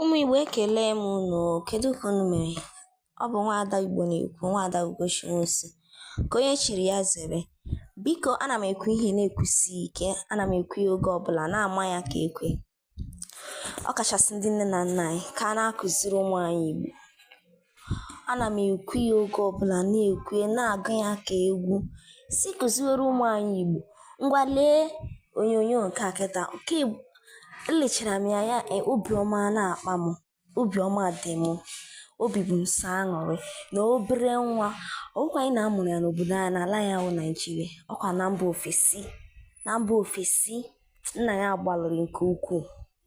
ụmụ Igbo ekele m unu kedu ka unu mere ọ bụ nwaada Igbo na-ekwu nwaada Ugochi Nwosu ka onye chiri ya zere biko ana m ekwu ihe na-ekwusi ike ana m ekwu ya oge ọbụla na-ama ya ka ekwe ọ kachasị ndị nne na nna anyị ka a na-akụziri ụmụ anyị Igbo ana m ekwu ya oge ọbụla na-ekwu ya na-agụ ya ka egwu sị kụziwere ụmụ anyị Igbo ngwa lee onyonyo nke a kịta elechara m ya ya e, obiọma na-akpa m obiọma dị m obi bụ m sọ aṅụrị na obere nwa ọ bụkwaghị na a mụrụ ya n'obodo anyị n'ala anyị bụ Naịjirịa ọkwa na mba ofesi na mba ofesi nna ya gbalịrị nke ukwuu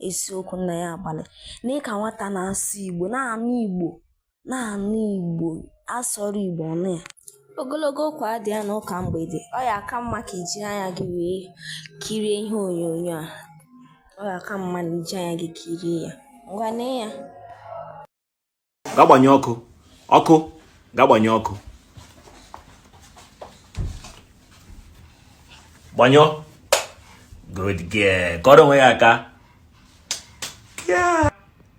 eziokwu nna ya agbalị na ịka nwata na-asụ igbo na-anụ igbo na-anụ igbo a sụọrọ igbo ọ nụ ya ogologo okwu adịghị na ụka mgbede ọ ya-aka mma ka i ji anya gị wee kirie ihe onyonyo a ọ ya-aka mma na i ji anya gị kirie ya ngwa nee ya ga gbanye ọkụ ọkụ ga gbanye ọkụ gbanyụọ good girl kụọrọ onwe gị aka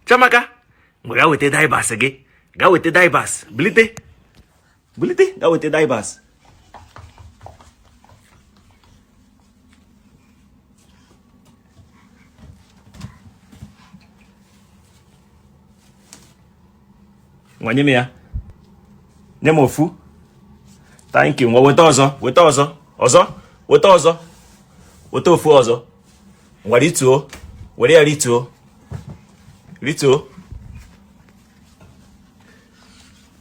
chiamaka ngwa ga weta diapers gị ga weta diapers bilite bilite ga weta diapers ngwa nye m ya nye m ofu thank you ngwa weta ọzọ weta ọzọ ọzọ weta ọzọ weta ofu ọzọ ngwa rituo were ya rituo rituo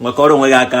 ngwa kụọrọ onwe gị aka